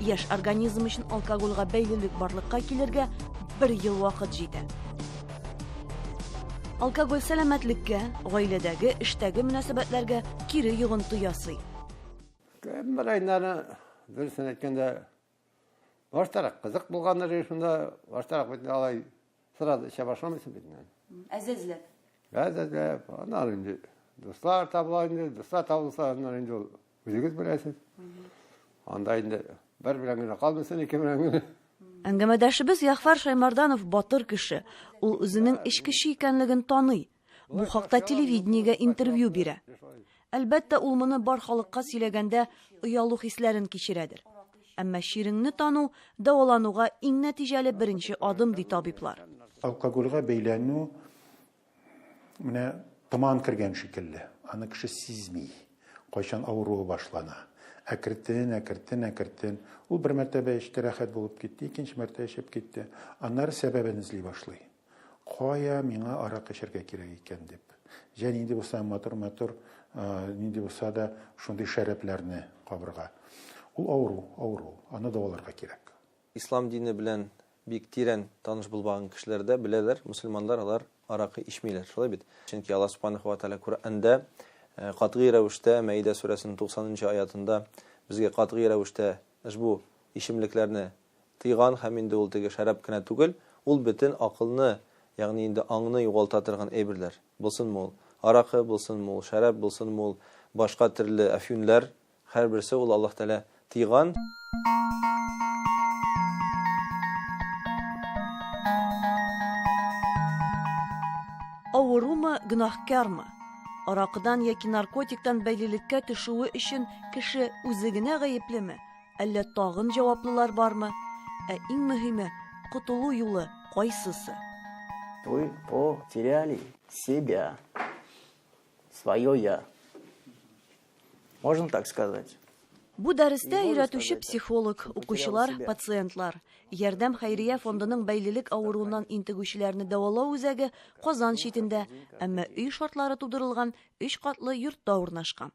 Яшь организм өчен алкогольгә бәйлелек барлыкка килергә бер ел вакыт җитә. Алкоголь сәламәтлеккә, гаиләдәге, эштәге мөнәсәбәтләргә кире йогынты ясый. Кембер айнаны дөресен әйткәндә баштарак кызык булган режимда баштарак бит алай Сразу эчә башламыйсың бит инде. Әзәзләп. Әзәзләп. Аннары инде дуслар табыла инде, дуслар табылса, аннары инде ул үзегез беләсез. Анда инде бер белән генә калмыйсың, ике белән генә. Әңгәмәдәшебез Ягъфар Шаймарданов батыр кеше. Ул үзенең эчкече икәнлеген таный. Бу хакта телевидениегә интервью бирә. Әлбәттә, ул моны бар халыкка сөйләгәндә оялу хисләрен кичерәдер. Әмма чиреңне тану дәвалануга иң нәтиҗәле беренче адым, ди табиблар. Алкогольгә бәйләнү менә томан кергән шикелле, аны кеше сизми, кайчан авыруы башлана. Әкертен, әкертен, әкертен. Ул бер мәртәбә эчте, рәхәт булып китте, икенче мәртәбә эчеп китте. Аннары сәбәбен эзли башлый. Кая миңа арак эчәргә кирәк икән дип. Җә нинди булса да матур-матур, нинди булса да шундый шәрабьләрне кабырга. Ул авыру, авыру, аны даваларга кирәк. Ислам дине белән бик тирән таныш булмаган кешеләр дә беләләр, мөселманнар алар аракы ичмиләр, шулай бит? Чөнки Аллаһ Субханаһу ва Тәгалә Коръәндә катгый рәвештә Мәидә сүрәсенең 90 нчы аятында безгә катгый рәвештә ошбу ичемлекләрне тыйган һәм инде ул теге шәраб кенә түгел, ул бөтен акылны, ягъни инде аңны югалта торган әйберләр. Булсынмы ул аракы, булсынмы ул шәраб, булсынмы ул башка төрле әфьюнләр, һәрберсе ул Аллаһ Тәгалә тыйган. Авырумы, гөнаһкармы? Аракыдан яки наркотиктан бәйлелеккә төшүе өчен кеше үзе генә гаеплеме? Әллә тагын җаваплылар бармы? Ә иң мөһиме, котылу юлы кайсысы? Вы потеряли себя, свое я. Можно так сказать? Бу дәрестә өйрәтүче психолог, укучылар, пациентлар. Ярдәм хәйрия фондының бәйлелек авыруыннан интегүчеләрне дәвалау үзәге Казан читендә, әмма өй шартлары тудырылган өч катлы йортта урнашкан.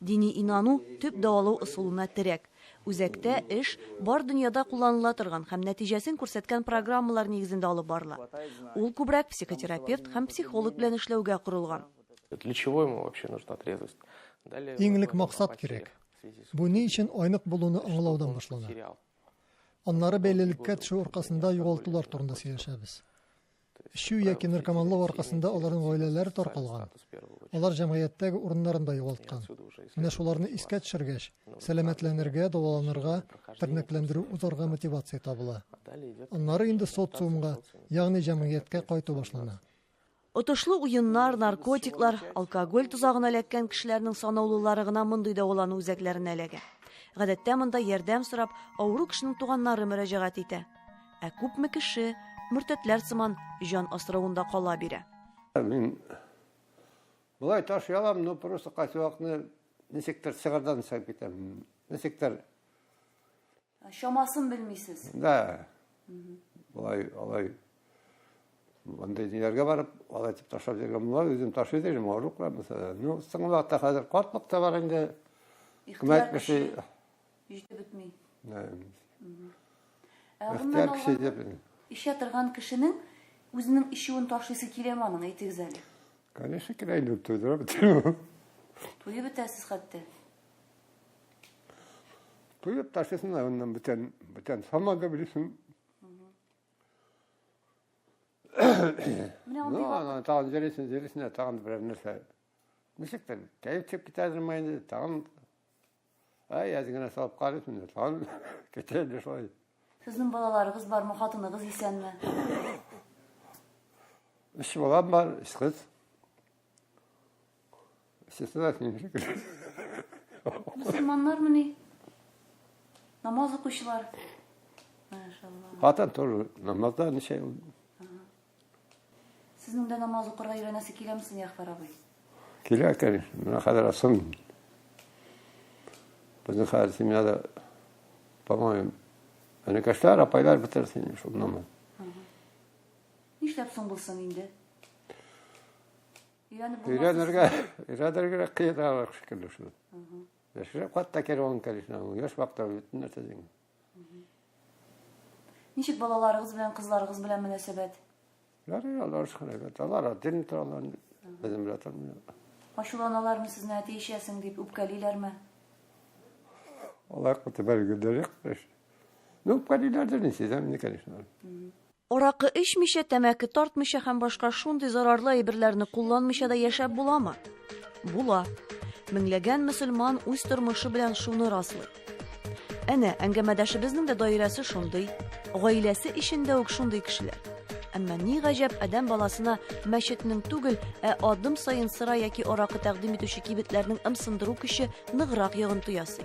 Дини инану төп дәвалау ысулына терәк. Үзәктә эш бар дөньяда кулланыла торган һәм нәтиҗәсен күрсәткән программалар нигезендә алып барыла. Ул күбрәк психотерапевт һәм психолог белән эшләүгә корылган. Для чего ему вообще нужна трезвость? Иң элек максат кирәк. Бу ни өчен айнык булуны аңлаудан башлана. Аннары бәйлелеккә төшү аркасында югалтулар турында сөйләшәбез. Эчү яки наркоманлык аркасында аларның гаиләләре таркалган. Алар җәмгыятьтәге урыннарын да югалткан. Менә шуларны искә төшергәч, сәламәтләнергә, дәваланырга, тернәкләндерү узарга мотивация табыла. Аннары инде социумга, ягъни җәмгыятькә кайту башлана. Отышлы уеннар, наркотиклар, алкоголь тозагына эләккән кешеләрнең санаулылары гына мондый дәвалану үзәкләренә эләгә. Гадәттә монда ярдәм сорап, авыру кешенең туганнары мөрәҗәгать итә. Ә күпме кеше мөртәтләр сыман җан асравында кала бирә. Мин болай таш ялам, но просто кайсуакны ничектер сыгырдан сыгып китәм. Ничектер. Чамасын белмисез. Да. Болай, алай. Андый ниләргә барып, алай дип ташлап йөргән була, үзем таш йөрдем, авыру кылам. Ну, соңгы вакытта хәзер картлык та бар инде. Ихтыяр кеше. Җитеп бетми. Ә Ихтияр кеше җитеп бетми. Ишә торган кешенең үзенең ишүен ташлыйсы киләме аның, әйтегез әле? Конечно, килә инде, туйдырып бетерү. Туеп бетәсез хәтта. Туеп ташлыйсың да аннан бүтән, бүтән самады белисең. Менә андый. Ну, ана тагын җөрисен, җөрисен, тагын берәр нәрсә. Ничектер, кәеф чыгып китә инде, тагын Ай, әз генә салып карыйк инде, тагын китә инде шулай. Сезнең балаларыгыз бармы, хатыныгыз исәнме? Өч балам бар, өч кыз. Өчесе дә синең шикелле. Мөселманнармы ни? Намаз укучылар. Машалла. Хатын тоже намазда ничә ел Сезнең дә намаз укырга өйрәнәсе киләме соң, Ягъфар абый? Килә, конечно. Менә хәзер асым. Безнең хәзер семьяда, по-моему, энекәшләр, апайлар бетерсен инде шул намаз. Нишләп соң булсын инде? Өйрәнеп булмас. Өйрәнергә, өйрәнергә кыйналыр шикелле шул. Яшереп хатта керә он, конечно, яшь вакытта бөтен нәрсә дигән. Ничек балаларыгыз белән, кызларыгыз белән мөнәсәбәт? Ярый, алар шулай бит. Алар один торалар, безнең белән тормый. Ачуланалармы сезне әти эчәсең дип, үпкәлиләрме? Алар котыбар гөдәлек. Ну, үпкәлиләрдер, ничек, да, конечно. Аракы эчмичә, тәмәке тартмыйча һәм башка шундый зарарлы әйберләрне кулланмыйча да яшәп буламы? Була. Меңләгән мөселман үз тормышы белән шуны раслый. Әнә, әңгәмәдәшебезнең дә даирәсе шундый, гаиләсе эчендә үк шундый кешеләр. Әмма ни гаҗәп, адәм баласына мәчетнең түгел, ә адым саен сыра яки аракы тәкъдим итүче кибетләрнең ымсындыру көче ныграк йогынты ясый.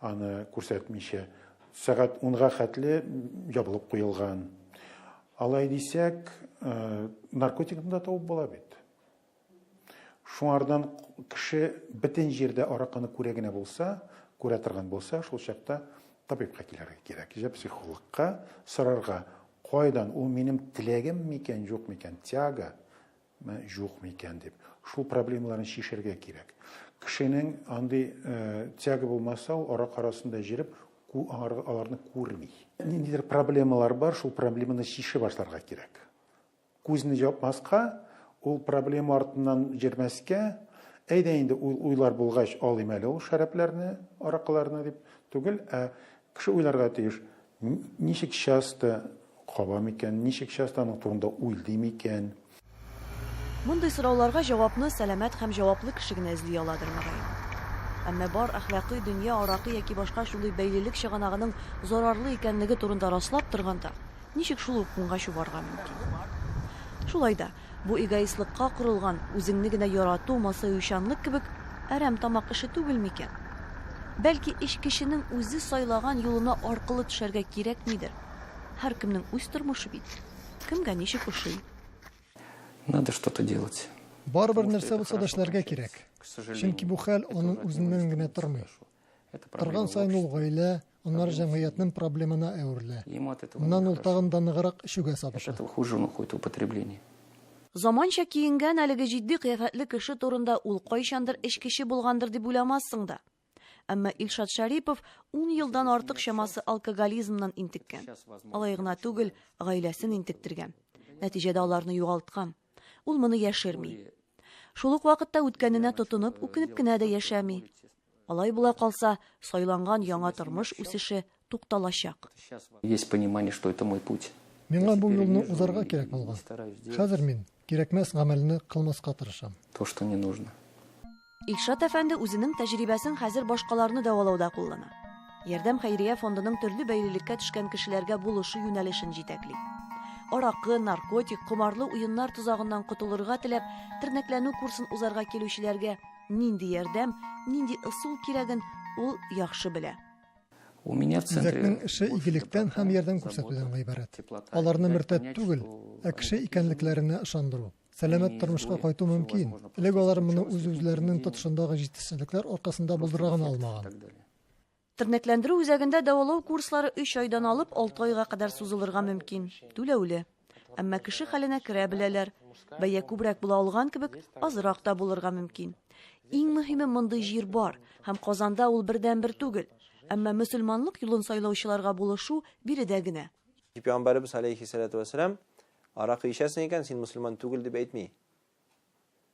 аны күрсәтмичә сәгать унга хәтле ябылып куелган алай дисәк э, наркотикны да табып була бит шуңардан кеше бөтен җирдә аракыны күрә генә булса күрә торган булса шул чакта табибка килергә кирәк җә психологка сорарга кайдан ул минем теләгем микән юк микән тяга Ме, юкмы икән дип. Шул проблемаларны чишергә кирәк. Кешенең андый э, тяга булмаса, ул арак арасында җиреп, аларны күрми. Ниндидер проблемалар бар, шул проблеманы чиши башларга кирәк. Күзне җапмаска, ул проблема артыннан җирмәскә, әйдә инде уйлар булгач алыйм әле ул шәрәпләрне, аракыларны дип түгел, ә кеше уйларга тиеш. Ничек часто каба микән? Ничек часто аның турында уйлый микән? Мондый сорауларга җавапны сәламәт һәм җаваплы кеше генә эзли аладыр, мөгаен. Әмма бар әхлакый дөнья аракы яки башка шундый бәйлелек чыганагының зарарлы икәнлеге турында раслап торганда, ничек шул ук уңга чубарга мөмкин? Шулай да, Бу эгоистлыкка корылган, үзеңне генә ярату, масаючанлык кебек әрәм тамак эше түгел микән? Бәлки, эш кешенең үзе сайлаган юлына аркылы төшәргә кирәкмидер? Һәркемнең үз тормышы бит. Кемгә ничек ошый. Надо что-то делать. Барыбер нәрсә булса да эшләргә кирәк. Чөнки бу хәл аның үзеннән генә тормый. Торган саен ул гаилә, аннары җәмгыятьнең проблемына әверелә. Моннан ул тагын да ныграк эчүгә сабыша. Заманча киенгән әлеге җитди кыяфәтле кеше турында ул кайчандыр эчкече булгандыр дип уйламассың да. Әмма Илшат Шәрипов ун елдан артык чамасы алкоголизмнан интеккән. Алай гына түгел, гаиләсен интектергән. Нәтиҗәдә аларны югалткан. Ул моны яшерми. Шул ук вакытта үткәненә тотынып, үкенеп кенә дә яшәми. Алай була калса, сайланган яңа тормыш үсеше тукталачак. Есть понимание, что это мой путь. Миңа бу юлны узарга кирәк булган. Хәзер мин кирәкмәс гамәлне кылмаска тырышам. То, что не нужно. Илшат әфәнде үзенең тәҗрибәсен хәзер башкаларны дәвалауда куллана. Ярдәм хәйрия фондының төрле бәйлелеккә төшкән кешеләргә булышу юнәлешен җитәкли. Аракы, наркотик, комарлы уеннар тозагыннан котылырга теләп, тернәкләнү курсын узарга килүчеләргә Нинди ярдәм, нинди ысул кирәген ул яхшы белә. Үзәкнең эше игелектән һәм ярдәм күрсәтүдән гыйбарәт. Аларны мөртәт түгел, ә кеше икәнлекләренә ышандыру. Сәламәт тормышка кайту мөмкин. Элек алар моны үз-үзләренең тотышындагы җитешсезлекләр аркасында булдыра гына алмаган. Тернәкләндерү үзәгендә дәвалау курслары өч айдан алып алты айга кадәр сузылырга мөмкин, түләүле. Әмма кеше хәленә керә беләләр. Бәя күбрәк була алган кебек, азрак та булырга мөмкин. Иң мөһиме мондый җир бар, һәм Казанда ул бердәнбер түгел. Әмма мөселманлык юлын сайлаучыларга булышу биредә генә. Пәйгамбәребез аләйһиссәләтү вәссәлам, Аракы эчәсең икән, син мөселман түгел, дип әйтми.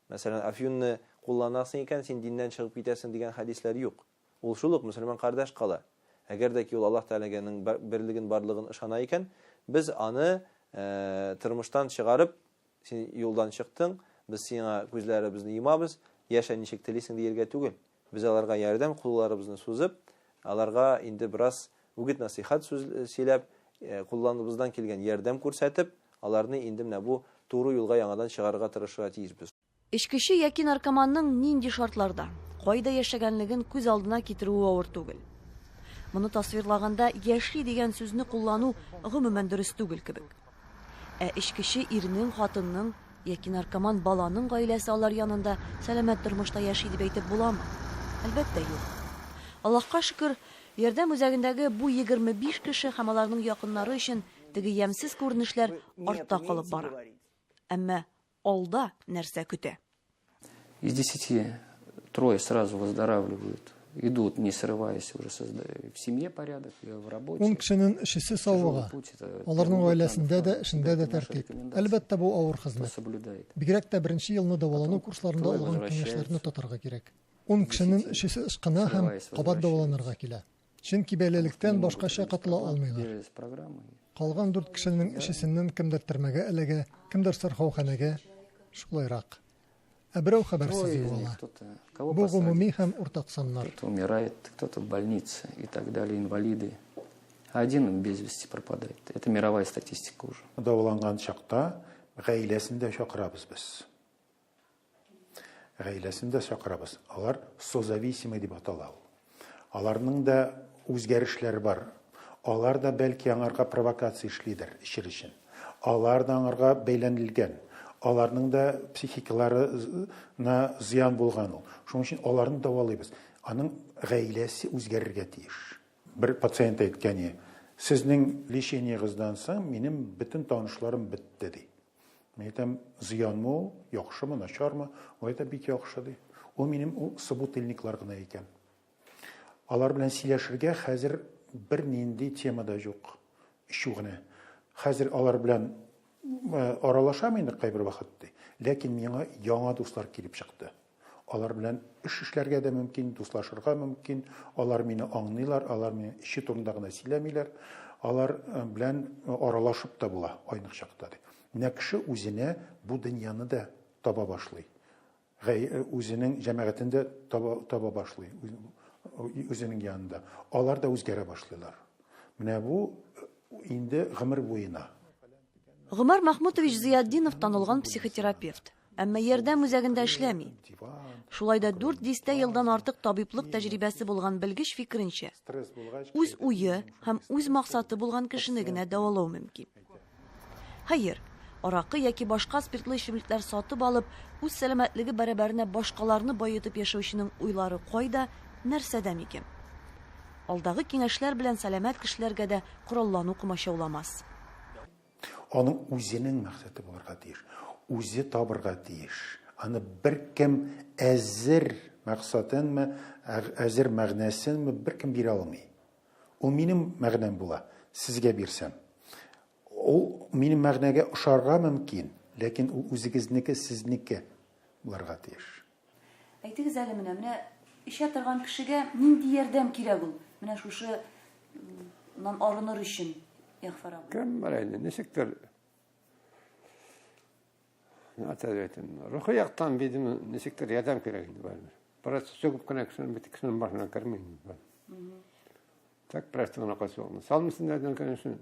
Мәсәлән, афьюнны кулланасың икән, син диннән чыгып китәсең, дигән хәдисләр юк. Ул шул ук мөселман кардәш кала. Әгәр дә ки ул Аллаһ Тәгаләгә нең берлеген барлыгын ышана икән, без аны тормыштан чыгарып, син юлдан чыктың, без сиңа күзләре безне йомабыз, яшә ничек телисең диергә түгел. Без аларга ярдәм кулларыбызны сузып, аларга инде бераз үгет-насыйхат сүз сөйләп, кулланыбыздан килгән ярдәм күрсәтеп, аларны инде менә бу туры юлга яңадан чыгарырга тырышырга тиешбез. Эчкече яки наркоманның нинди шартларда, кайда яшәгәнлеген күз алдына китерүе авыр түгел. Моны тасвирлаганда яши дигән сүзне куллану гомумән дөрес түгел кебек. Ә эчкече ирнең, хатынның яки наркоман баланың гаиләсе алар янында сәламәт тормышта яши дип әйтеп буламы? Әлбәттә, юк. Аллаһка шөкер, Ярдәм үзәгендәге бу 25 кеше һәм аларның якыннары өчен теге ямьсез күренешләр артта калып бара. Әмма Алда нәрсә көтә? Из десяти трое сразу выздоравливают, идут, не срываясь, уже в семье порядок, в работе. Ун кешенең өчесе савыга. Аларның гаиләсендә дә, эшендә дә тәртип. Әлбәттә, бу авыр хезмәт. Бигрәк тә беренче елны дәвалану курсларында алган киңәшләрне тотарга кирәк. Ун кешенең өчесе ышкына һәм кабат дәваланырга килә. Чөнки бәйлелектән башкача котыла алмыйлар. Калган дүрт кешенең өчесеннән кемдер төрмәгә эләгә, кемдер сырхауханәгә, шулайрак. Ә берәү хәбәрсез югала. Бу гомуми һәм уртак саннар. Кто-то умирает, кто-то в больнице и так далее, инвалиды. А один без вести пропадает. Это мировая статистика уже. Дәваланган чакта гаиләсен дә чакырабыз без. Гаиләсен дә чакырабыз. Алар созависимый дип атала ул. Аларның да үзгәрешләре бар. Алар да, бәлки, аңарга провокация эшлидер, эчер өчен. Алар да аңарга бәйләнелгән. Аларның да психикаларына зыян булган ул. Шуның өчен аларны дәвалыйбыз. Аның гаиләсе үзгәрергә тиеш. Бер пациент әйткәни, Сезнең лечениегыздан соң минем бөтен танышларым бетте, ди. Мин әйтәм, зыянмы ул, яхшымы, начармы? Ул әйтә, бик яхшы ди. Ул минем ул собутыльниклар гына икән. Алар белән сөйләшергә хәзер бер нинди тема да юк. Ишү генә. Хәзер алар белән э, аралашам инде кайбер вакыт ди. Ләкин миңа яңа дуслар килеп чыкты. Алар белән эш эшләргә дә мөмкин, дуслашырга мөмкин. Алар мине аңлыйлар, алар мине эче турында гына сөйләмиләр. Алар белән аралашып та була айнык чакта, ди. Менә кеше үзенә бу дөньяны да таба башлый. Үзенең җәмәгатен дә таба, таба башлый, үзенең янында. Алар да үзгәрә башлыйлар. Менә бу инде гомер буена. Гомәр Мәхмүтович Зыятдинов танылган психотерапевт. Әмма ярдәм үзәгендә эшләми. Шулай да 4 дистә елдан артык табиблык тәҗрибәсе булган белгеч фикеренчә, үз уе һәм үз максаты булган кешене генә дәвалау мөмкин. Хәер, аракы яки башка спиртлы эчемлекләр сатып алып, үз сәламәтлеге бәрабәренә башкаларны баетып яшәүченең уйлары кайда, нәрсәдә микән? Алдагы киңәшләр белән сәламәт кешеләргә дә кораллану комачауламас. Аның үзенең мәксәте булырга тиеш. Үзе табырга тиеш. Аны беркем әзер мәксатынмы, әзер мәгънәсенме беркем бирә алмый. Ул минем мәгънәм була, сезгә бирсәм. Ул минем мәгънәгә ошарга мөмкин, ләкин ул үзегезнеке, сезнеке булырга тиеш. Әйтегез әле менә, менә эчә торган кешегә нинди ярдәм кирәк ул? Менә шушы нан арыныр өчен, Ягфар абый. Кем бар инде, ничектер әйтәм, рухи яктан бидем ничектер ярдәм кирәк инде барыбер. Бераз чөгеп кенә кешенең бит кешенең башына керми инде. Так просто гына качуын. Салмысын да дигән кенә шул.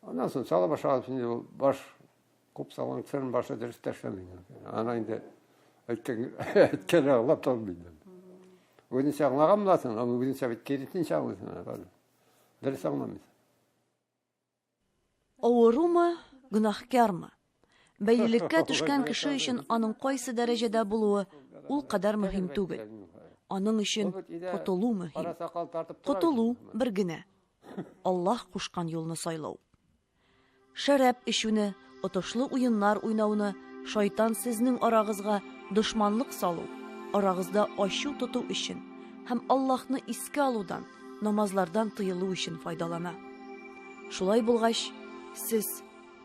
Аннан соң сала башлады инде баш Күп салынсын, башы дөрес тәшләми. Ана инде әйткән әйткән аңлап тормый. Үзенчә аңлаган буласың, аны үзенчә бит киресенчә аңлыйсың. Дөрес аңламыйсың. Авырумы, гөнаһкармы? Бәйлелеккә төшкән кеше өчен аның кайсы дәрәҗәдә булуы ул кадәр мөһим түгел. Аның өчен котылу мөһим. Котылу бер генә. Аллаһ кушкан юлны сайлау. Шәраб эчүне, отышлы уеннар уйнауны, шайтан сезнең арагызга дошманлык салу, арагызда ачу тоту өчен һәм Аллаһны искә алудан, намазлардан тыелу өчен файдалана. Шулай булгач, сез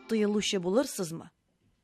тыелучы булырсызмы?